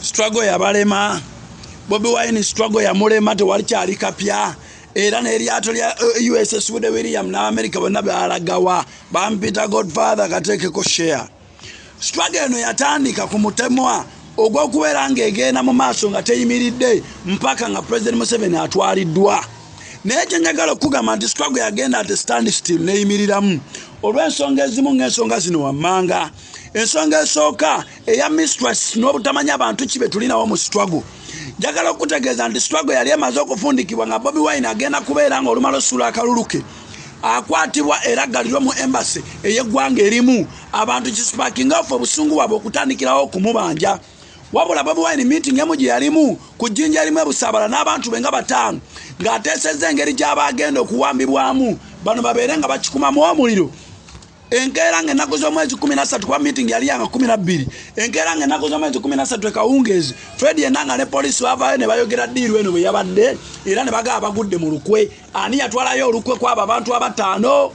struggle yabalema bobi wine struggle yamulema tewali kyali kapya era n'eryato lya eh, uss wude william n'amerika bonna balagawa bampita godfather kateekeko share struggle eno yatandika ku mutemwa ogw'okubeera ng'egenda mu maaso nga teyimiridde mpaka nga president museveni atwaliddwa naye kyenjagala okukugamba nti struggle yagenda ate stand still neyimiriramu olw'ensonga ezimu ng'ensonga zino wammanga ensonga esooka eya mistress n'obutamanya bantu ki betulinawo mu struggle njagala okukutegeeza nti struggle yali emaze okufundikibwa nga bobi wine agenda kubeera nga olumala osuula akaluluke akwatibwa era galirwe mu embasi ey'eggwanga erimu abantu kisipakinga ofe obusungu bwabwe okutandikirawo okumubanja wabula bobi wine meeting emu gye yalimu ku jjinja erimu ebusaabala n'abantu be nga bataano ng'ateesezza engeri gy'aba agenda okuwambibwamu bano babeere nga bakikumamu omuliro enkeera nga ennaku z'omwezi kumi nassatu kuba meeting yali yanga kumi nabbiri enkeera nga ennaku z'omwezi kumi nassatu ekawungeezi fred enanga ne poliisi bavaayo ne bayogera diiru eno bwe yabadde era ne bagaba bagudde mu lukwe ani yatwalayo olukwe kwabo abantu abataano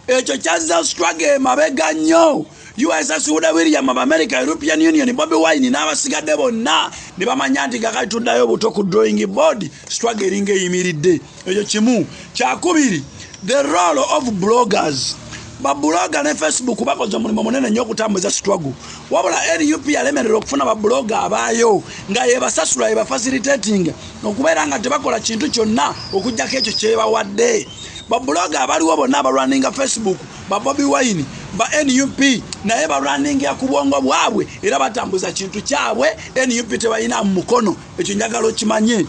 ekyo kyazza struggle emabega nnyo usa suuda william of america european union bobi wine n'abasigadde bonna ne bamanya nti kakati tuddayo obuto ku drawing board strugg eringa eyimiridde ekyo kimu kyakubiri the role of bloggers babuloga ne facebook bakoze omulimu munene nnyo okutambuza struggle wabula nup yalemerera okufuna babuloga abaayo nga yebasasula yebafasilitatinga okubeera nga tebakola kintu kyonna okugyako ekyo kyebawadde babuloga abaliwo bonna abalwaninga facebook ba bobi wine ba nup naye balwaningia ku bwongo bwabwe era batambuza kintu kyabwe nup tebalina mu mukono ekyo njagala okimanye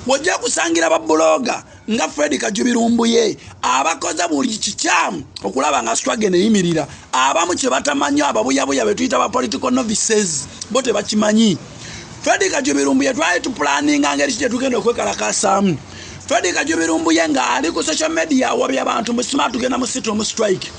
wojja kusangira babuloga nga fred kajubirumbuye abakoze buli kikyamu okulaba nga strage neyimirira abamu kyebatamanyi ababuyabuya betuyita ba political novices bo tebakimanyi fred kajubirumbuye twali tupulaninga ngeri ki gyetugenda okwekalakasaamu Fred Kajubi Lumbuye nga ali ku social media wabya abantu mu smart tugenda mu situ mu strike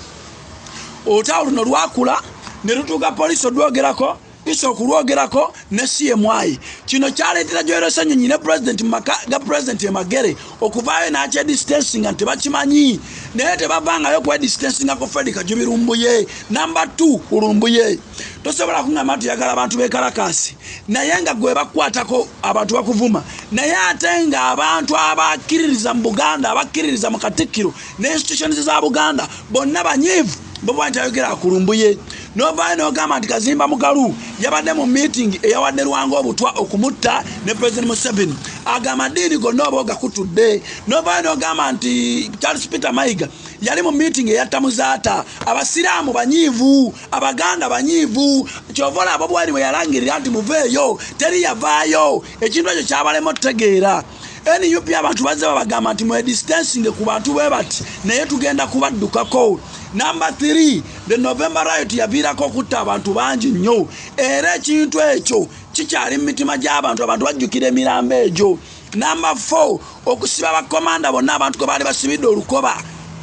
olutalo luno lwakula ne lutuuka poliisi olwogerako isa okulwogerako ne cmi kino kyaleetera gyoerosenyonyi ne pulezidenti mumaka ga pulezidenti emagere okuvaayo nakyedistansinga nti tebakimanyi naye tebavangayo kwedistansinga ku fred kajubirumbuye namba 2 ulumbuye tosobola kungamba nti yagala abantu bekalakaasi naye nga gwe bakukwatako abantu bakuvuma naye ate nga abantu abakkiririza mu buganda abakkiririza mu katikkiro ne institutions za buganda bonna banyiivu boba nti ayogera akulumbuye novaayo nogamba nti kazimba mugalu yabadde mu meeting eyawadde lwanga obutwa okumutta ne president museveni aga amadiini gonna oba ogakutudde novaayo nogamba nti charles peter mayiga yali mu meeting eyatta muzaata abasiraamu banyiivu abaganda banyiivu kyova olaba bwali bwe yalangirira nti muveeyo teri yavaayo ekintu ekyo kyabalema otutegeera nup abantu bazze babagamba nti mwedistansinge ku bantu bwe bati naye tugenda kubaddukako namba 3 the november riot yaviirako okutta abantu bangi nnyo era ekintu ekyo kikyali mu mitima gy'abantu abantu bajjukira emirambo egyo Namba 4 okusiba bakomanda bonna abantu kwe baali basibidde olukoba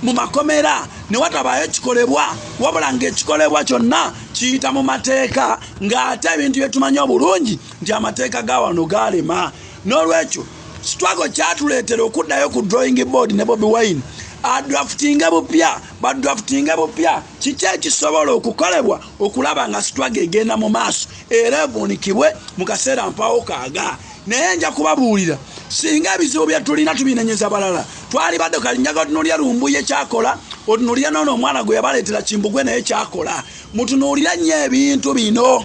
mu makomera ne watabaayo kikolebwa wabula ng'ekikolebwa kyonna kiyita mu mateeka ng'ate ebintu bye tumanyi obulungi nti amateeka ga wano gaalema n'olwekyo sitwago kyatuleetera okuddayo ku drawing board ne bobi wine adraftinge bupya badraftinge bupya kiki ekisobola okukolebwa okulaba nga sitwago egenda mu maaso era evuunikibwe mu kaseera mpawo kaaga naye nja kubabuulira singa ebizibu bye tulina tubinenyeza balala twali badde kalinyaga otunuulira lumbuye kyakola otunuulira noona omwana gwe yabaleetera kimbugwe naye kyakola mutunuulira nnyo ebintu bino